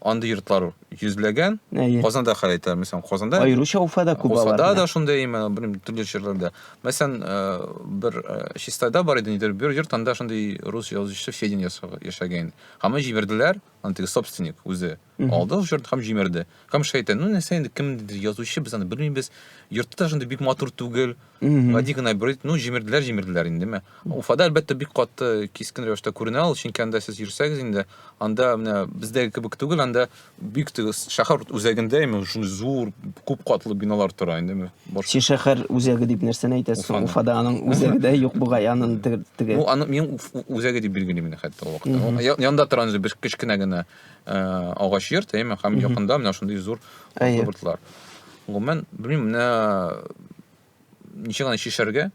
Андый йортлар йөзләгән. Әйе. Казанда хәл итә, мәсәлән, Казанда. Аеруча Уфада күп алар. Уфада да шундый, именно, белмим, төрле җирләрдә. Мәсәлән, э, бер э, Чистайда бар иде нидер, бер йорт анда шундый рус язучысы Федин яшәгән. Һәм җибәрделәр, андый собственник үзе. Алды ул йорт һәм җимерде. Һәм шәйтан, ну нәрсә инде, кемдер язучы, без аны белмибез. Йорты да шундый бик матур түгел, гади генә бер ну җимерделәр җимерделәр индеме уфада әлбәттә бик каты кискен рәвештә күренә ул чөнки анда сез йөрсәгез инде анда менә бездәге кебек түгел анда бик шәһәр үзәгендә именно шундый зур күп катлы биналар тора индеме син шәһәр үзәге дип нәрсәне әйтәсең уфада аның үзәге дә юк бугай аның теге ну аны мин үзәге дип билгелим инде хәтта ул вакытта янда торган бер кечкенә генә э, агач йорт әйме һәм якында менә шундый зур йортлар Гомумән, белмим, менә ничек аны чишәргә?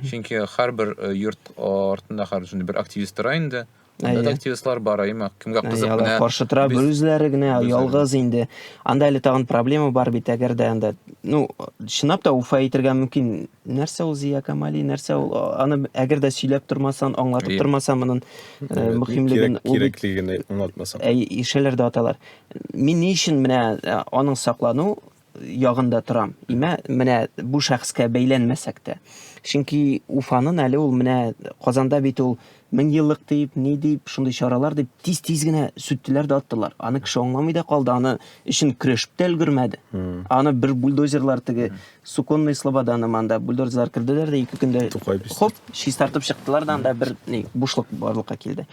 Чөнки һәрбер э, йорт артында хәзер шундый бер активист тора инде. Анда да активистлар бар, әйме, кемгә кызык менә. Каршы тора бер үзләре генә, ялгыз инде. Анда әле тагын проблема бар бит, әгәр дә анда, ну, чынлап та уфа әйтергә мөмкин. Нәрсә ул Зия Камали, нәрсә ул? Аны әгәр дә сөйләп тормасан, аңлатып тормасан, моның э, мөһимлеген, кирәклеген аңлатмасан. Әй, ишеләр дә аталар. Мин ни өчен менә аның саклану ягында торам. Имә менә бу шәхескә бәйләнмәсәк тә. Чөнки Уфанын әле ул менә Казанда бит ул мең еллык дип, ни дип, шундый чаралар дип тиз-тиз генә сүттеләр дә аттылар. Аны кеше аңламый да калды, аны өчен көрәшеп тә өлгермәде. Аны бер бульдозерлар теге Суконный Слободаны манда бульдозерлар керделәр дә ике көндә хоп, чистартып чыктылар да анда бер ни бушлык барлыкка килде.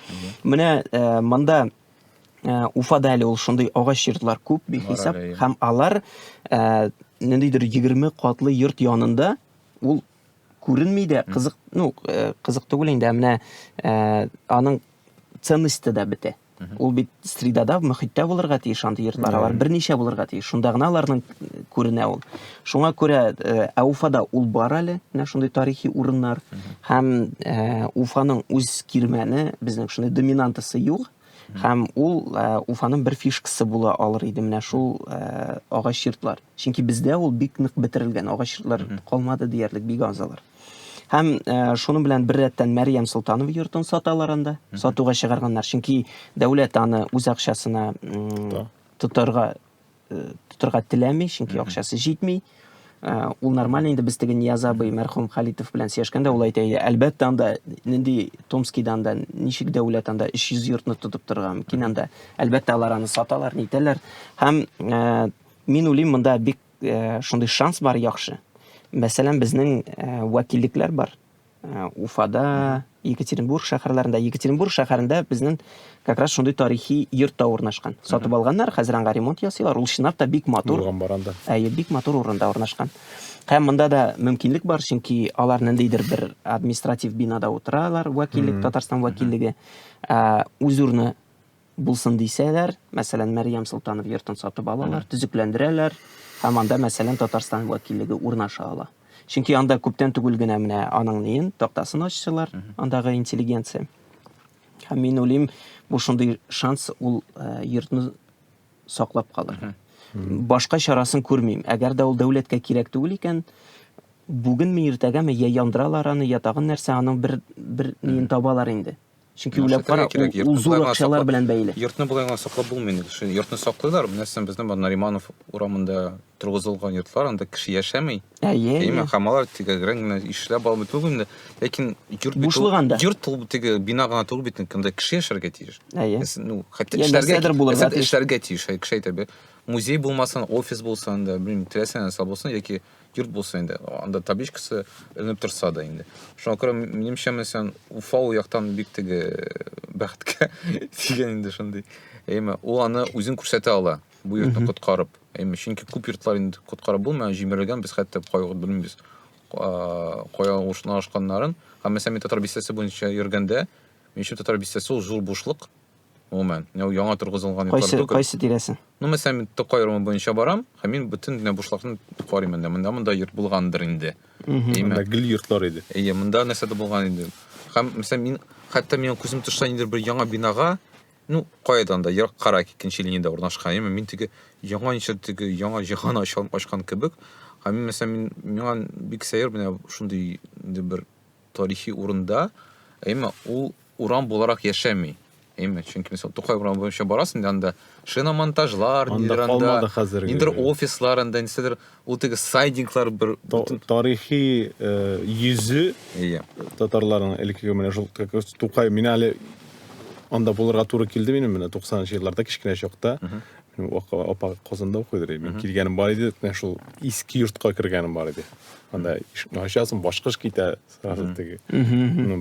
Менә монда Э, Уфада әле ул шундый агач йортлар күп бихисап Бар әле, иә. һәм алар э, ниндидер 20 катлы йорт янында ул күренми дә кызык ну э, кызык түгел инде ә менә э, аның ценности дә бетә ул бит средада мөхиттә булырга тиеш андый йортлар алар берничә булырга тиеш шунда гына аларның күренә ул Шуңа күрә э, ә Уфада ул бар әле, менә шундый тарихи урыннар һәм э, Уфаның үз кирмәне, безнең шундый доминантасы юк. Һәм ул э, Уфаның бер фишкасы була алыр иде менә шул э, агач йортлар. Чөнки бездә ул бик нык бетерелгән, агач йортлар калмады диярлек, бик азалар. Һәм э, шуның белән бер рәттән Мәриям Солтанова йортын саталар анда, сатуга чыгарганнар. Чөнки дәүләт аны үз акчасына м, тотарга э, тотырга теләми, чөнки акчасы җитми. Э, ул нормально инде без теге Нияз абый мәрхүм Халитов белән сөйләшкәндә ул әйтә иде, әлбәттә анда нинди Томскидан да ничек дәүләт анда 300 йортны тотып торган мөмкин анда. Әлбәттә алар аны саталар, нитәләр. Һәм э, мин уйлыйм монда бик шундый шанс бар яхшы. Мәсәлән, безнең вәкиллекләр бар. Э, уфада екатеринбург шәһәрләрендә екатеринбург шәһәрендә безнең как раз шундый тарихи йорт та урнашкан сатып алганнар хәзер аңа ремонт ясыйлар ул чынлап та бик матур әйе бик матур урында урнашкан һәм монда да мөмкинлек бар чөнки алар ниндидер бер административ бинада утыралар вәкиллек татарстан вәкиллеге э, үз урыны булсын дисәләр, мәсәлән, Мәрьям Солтанов йортын сатып алалар, төзекләндерәләр һәм анда, мәсәлән, Татарстан вәкиллеге урнаша ала. Чөнки анда күптән түгел генә менә аның ниен, тактасын ачтылар, андагы интеллигенция. Һәм мин уйлыйм, бу шундый шанс ул э, йортны саклап калырга. Башка чарасын күрмим. Әгәр дә ул дәүләткә кирәк түгел икән, бүгенме, иртәгәме я яндыралар аны, я тагын нәрсә, аның бер бер ниен табалар инде. Чөнки уйлап кара, ул зур акчалар белән бәйле. Йортны болай гына саклап булмый инде. Шуны йортны саклыйлар, менә син безнең бу Нариманов урамында торгызылган йортлар, анда кеше яшәми. Әйе. Әйе, хамалар тиге грән генә ишләп алып бит инде. Ләкин йорт бит бушлыганда. Йорт ул тиге бина гына түгел бит, анда кеше яшәргә тиеш. Әйе. Ну, хәтта эшләргә булырга тиеш. Эшләргә тиеш, кеше әйтә бе. Музей булмасын, офис булсын да, белмим, теләсә нәрсә булсын яки Йорт булса инде, анда табличкасы эленеп торса да инде. Шуңа күрә минемчә мен сен Уфа у яктан бик теге бәхеткә тигән инде шундый. Әйме, ул аны үзен күрсәтә ала, бу йортны коткарып. Әйме, чөнки күп йортлар инде коткарып булмый, җимерелгән, без хәтта кайгырып белмибез. Кая урнашканнарын. Һәм мәсәлән, мин татар бистәсе буенча йөргәндә, минемчә татар бистәсе ул зур бушлык, гомумән. Менә яңа торгызылган йортлар Кайсы, түгел. кайсы тирәсе? Ну, мәсәлән, мин Тукай районы буенча барам, һәм мин бөтен генә бушлыкны карыйм инде. Монда монда йорт булгандыр инде. Әйме? Монда гел йортлар иде. Әйе, монда нәрсәдер булган инде. Һәм, мәсәлән, мин хәтта минем күзем төшсә ниндидер бер яңа бинага, ну, каядан да, ерак кара икенче линиядә урнашкан, әйме? Мин теге яңа ничә теге яңа җиһан ачкан, ачкан кебек. Һәм мин, мәсәлән, мин миңа бик сәер менә шундый инде бер тарихи урында, әйме ул урам буларак яшәми. Әйме, чөнки мисал Тукай урамы буенча барасың да анда шиномонтажлар, нидер анда, нидер офислар анда, нидер ул теге сайдинглар бер тарихи э, йөзе иә. татарларның элеккеге менә шул Тукай, мин әле анда булырга туры килде минем менә 90 нчы елларда кечкенә чакта. Апа Казанда укыйдыр, мин килгәнем бар иде, менә шул иске йортка кергәнем бар иде. Анда ишекне ачасың, башкыш китә сразу теге.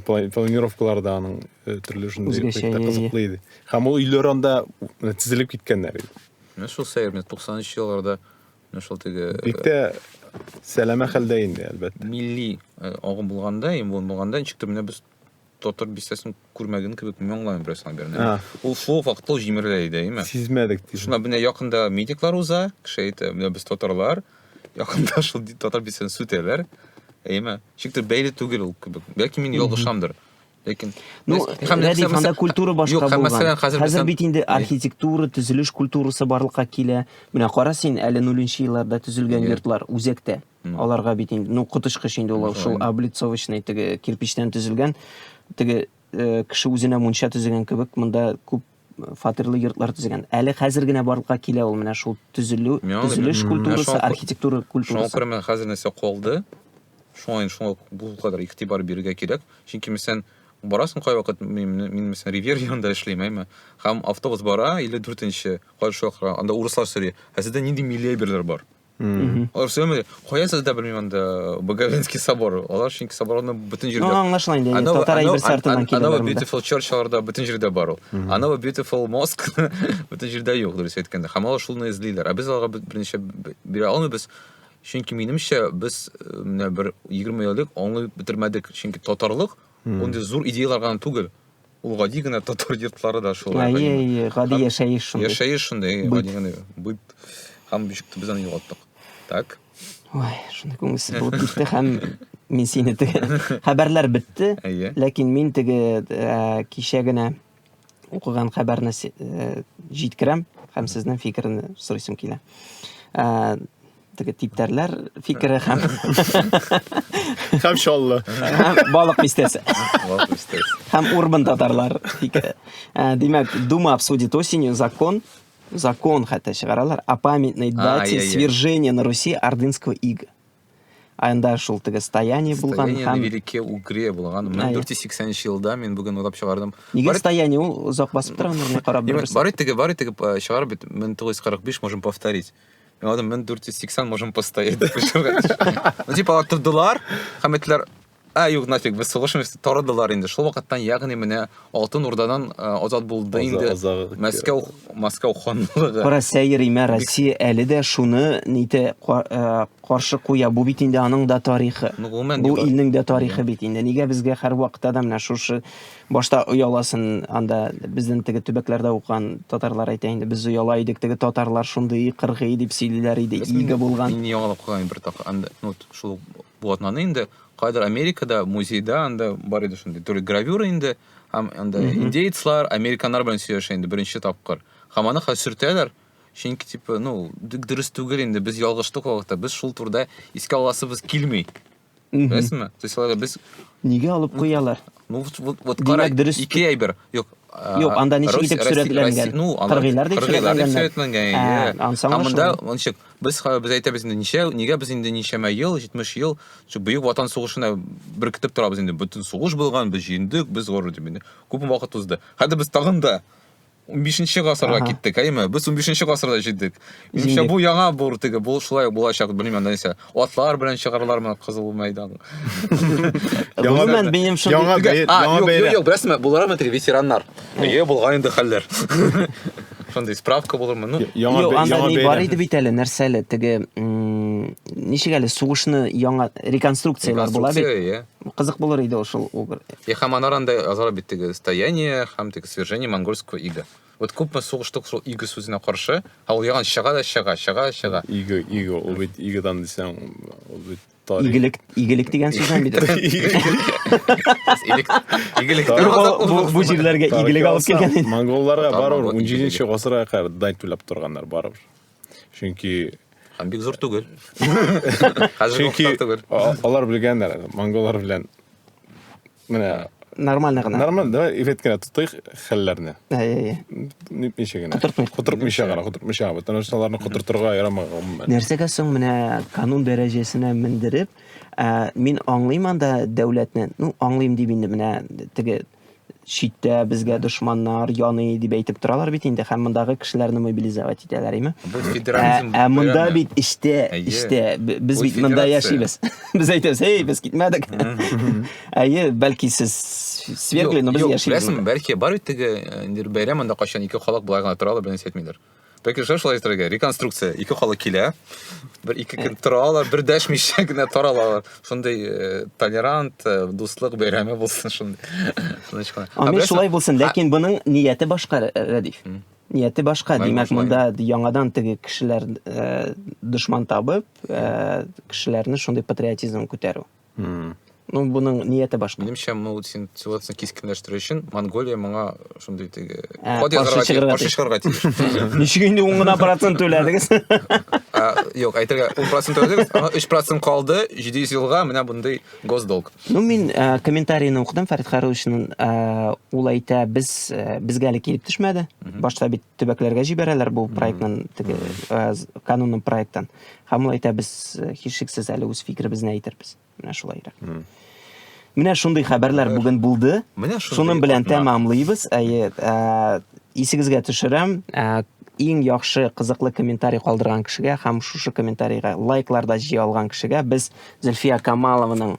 Планировкаларда аның э, төрле шундый кызыклы иде. Һәм ул өйләр анда э, тезелеп киткәннәр иде. Менә шул сәер, менә 90-нчы елларда менә шул теге Бик тә сәләмә хәлдә инде, әлбәттә. Милли э, агым булганда, ем булганда, ничектер менә без Татар бистәсен күрмәгән кебек мин аңламыйм бераз наверное. Ул шул вакыт ул җимерелә иде, әйме? Сизмәдек дип. Шуна менә якында медиклар уза, кеше әйтә, менә без татарлар, якында шул татар бистәсен сүтәләр. Әйме? Шиктер бәйле түгел ул кебек. Бәлки мин ялгышамдыр. Ләкин Ну, Рәдиф, анда культура башка Юк, булган. мәсәлән, хәзер Хәзер безнең- бит инде архитектура, төзелеш культурасы барлыкка килә. Менә кара син, әле нуленче елларда төзелгән Иә. йортлар үзәктә. Аларга бит инде, ну, коточкыч инде ул шул облицовочный теге кирпичтән төзелгән, теге э, кеше үзенә мунча төзегән кебек, монда күп фатирлы йортлар төзегән. Әле хәзер генә барлыкка килә ул менә шул төзелү, төзелеш культурасы, архитектура культурасы. Шуңа күрә менә хәзер нәрсә калды. Шуңа шуңа бу кадәр игътибар бирергә кирәк. Чөнки мәсәлән, барасың кайвакыт, мин, мин мәсәлән, Ривер янында эшлим, әйме. Һәм автобус бара, 54-нче, кайшокра, анда урыслар сөри. Ә сездә нинди милли әйберләр бар? Алар сөйләмәде. Кая сездә белмим анда Боговенский собор. Алар чөнки соборны бүтән җирдә. Ну, аңлашыла инде. Татар әйбер сартыннан килә. Анда beautiful church аларда бүтән җирдә бар ул. Анда beautiful mosque бүтән җирдә юк, дөрес әйткәндә. Һәм алар шулны эзлиләр. Ә без аларга берничә бирә алмыйбыз. Чөнки минемчә без менә бер 20 еллык аңлый бетермәдек. Чөнки татарлык, ундый зур идеялар гына түгел. Ул гади генә татар йортлары да шулай. Әйе, әйе, гади яшәеш шундый. Яшәеш шундый, гади генә. Быт. Һәм бишек без аны югалттык. Так. Ой, шундый күңелсез булып китте һәм мин сине теге хәбәрләр бетте. Әйе. Ләкин мин теге э, кичә генә укыган хәбәрне э, җиткерәм һәм сезнең фикерне сорыйсым килә. Э, теге типтәрләр фикере һәм һәм чаллы һәм балык бистәсе һәм урбан татарлар фикере ә, димәк дума обсудит осенью закон закон хәтта чыгаралар о памятной дате свержения на руси ордынского ига анда шул теге стояние булган һәм велике угре булган мең дүрт йөз сиксәненче елда мин бүген уйлап чыгардым нигә стояние ул озак басып тора аны карап барып теге барып теге чыгарып бит мең тугыз йөз кырык биш можем повторить Мен алдым, мен 480 можем поставить. Ну, типа, алар тордылар, һәм әйтеләр, ә, юк, нафиг, без сугышмыз, тордылар инде. Шул вакыттан, ягъни, менә Алтын Урдадан э, азат булды Аза- инде. азагы- Мәскәү, Мәскәү ханлыгы. Кара сәйриме, Россия әле дә шуны нитә ка- э, каршы куя. Бу бит инде аның да тарихы. Ну, гомумән, Бу югары. илнең дә тарихы бит инде. Нигә безгә һәр вакытта да менә шушы Башта ояласын анда безнең теге төбәкләрдә укыган татарлар әйтә инде, без ояла идек, теге татарлар шундый кыргый дип сөйлиләр иде, иге булган. Мин яңалап куйган бер так, анда, ну, шул блатнаны инде, кайдыр Америкада, музейда анда бар иде шундый, түрле гравюра инде, һәм анда индейцлар, американнар белән сөйләшә инде беренче тапкыр. Һәм аны хәзер сөртәләр, чөнки, типа, ну, дөрес түгел инде, без ялгыштык вакытта, без шул турыда искә аласыбыз килми. Беләсеңме? То есть аларга без Нигә алып куялар? Ну, вот, вот, вот Димәк, карай, дөрес- ике әйбер. Юк, а, Юк, анда ничек Рус- итеп Россия- сурәтләнгән? Россия- Ну, алар- Кыргыйлар дип кыргыйлар дип сурәтләнгәннәр. сурәтләнгән. Ә, иә. ансаң Һәм монда, ошамый. ничек, без, ха- без әйтәбез инде, ничә, нигә без инде ничәмә ел, 70 ел, шул Бөек Ватан сугышына беркетеп торабыз инде. Бөтен сугыш булган, без җиңдек, без горур дип инде. Күп вакыт узды. Хәзер без тагын да 15-нче гасырга киттек, әйме? Без 15-нче гасырда җиттек. Имчә бу яңа бур теге, бу шулай булачак, белмим, нәрсә. Атлар белән чыгарлармы кызыл мәйдан? Гомумән, минем шундый... Яңа бәйрәм. А, юк, юк, юк, беләсезме, булармы теге ветераннар? Әйе, булган инде хәлләр. Шундый справка булырмы? Ну, яңа бәйрәм. Анда ни бар иде бит әле, нәрсә әле, теге, ничек әле, сугышны яңа реконструкцияләр була бит. Кызык булыр иде ул шул убер. И һәм анар анда язалар бит теге стояние һәм теге свержение монгольского ига. Вот күпме сугыштык шул иге сүзенә каршы, ә ул яган чыга да чыга, чыга, чыга. Иго, иго, ул бит игодан дисәң, ул бит тарих. Игелек, игелек дигән сүз бит. Игелек. Игелек. Бу җирләргә игелек алып килгән. Монголларга барыр, 17 нче гасырга кадәр дань түләп торганнар барыр. чөнки Һәм бик зур түгел. Хәзер чөнки түгел. алар белгәннәр монголлар белән менә нормально гына нормально да ифет кенә тотыйк хәлләрне ничә генә котыртмыйча гына котыртмыйча потому что аларны котыртырга ярамый гомумән нәрсәгә соң менә канун дәрәҗәсенә мендереп ә, мин аңлыйм анда дәүләтне ну аңлыйм дип инде менә теге читтә безгә дошманнар яный дип әйтеп торалар бит инде һәм мондагы кешеләрне мобилизовать итәләр име ә монда бит эчтә эчтә без бит монда яшибез без әйтәбез эй без китмәдек әйе бәлки сез свергли но без яшибез беләсең бәлки бар бит теге э, бәйрәм монда кайчан ике халык болай гына торалар бернәрсә әйтмиләр Пәке шәм шулай итәргә. Реконструкция. Ике халык килә. Бер ике көн тора алар, бер дәшмичә генә тора алар. Шундый э, толерант, э, дуслык бәйрәме булсын шундый. Тыныч кына. Ә Амин беләсең- шулай булсын, ләкин буның нияте башка, Рә- Рәдиф. Нияте башка, Мәгълүм димәк, шулай. монда яңадан теге кешеләр э, дошман табып, э, кешеләрне шундый патриотизм күтәрү. Hmm. Ну, буның нияте башка. Минемчә, моны син ситуацияне кискенләштерү өчен Монголия моңа шундый теге ә, код язарга тиеш, каршы чыгарга тиеш. Ничек инде ун гына процент түләдегез? Юк, әйтергә, ун процент түләдегез, аңа өч процент калды, җиде йөз елга менә бундый госдолг. Ну, мин ә, комментарийны укыдым, Фәрит Харусовичның ул әйтә, без безгә әле килеп төшмәде. Башта бит төбәкләргә җибәрәләр бу проектның теге э, канунның проектын. Һәм ул әйтә без э, һичшиксез әле үз фикеребезне әйтербез. Менә шулай ирек. Менә шундый хәбәрләр бүген булды. Менә шуның белән тәмамлыйбыз. Әйе, э, исегезгә төшерәм, иң яхшы кызыклы комментарий калдырган кешегә һәм шушы комментарийга лайкларда җыя алган кешегә без Зөлфия Камалованың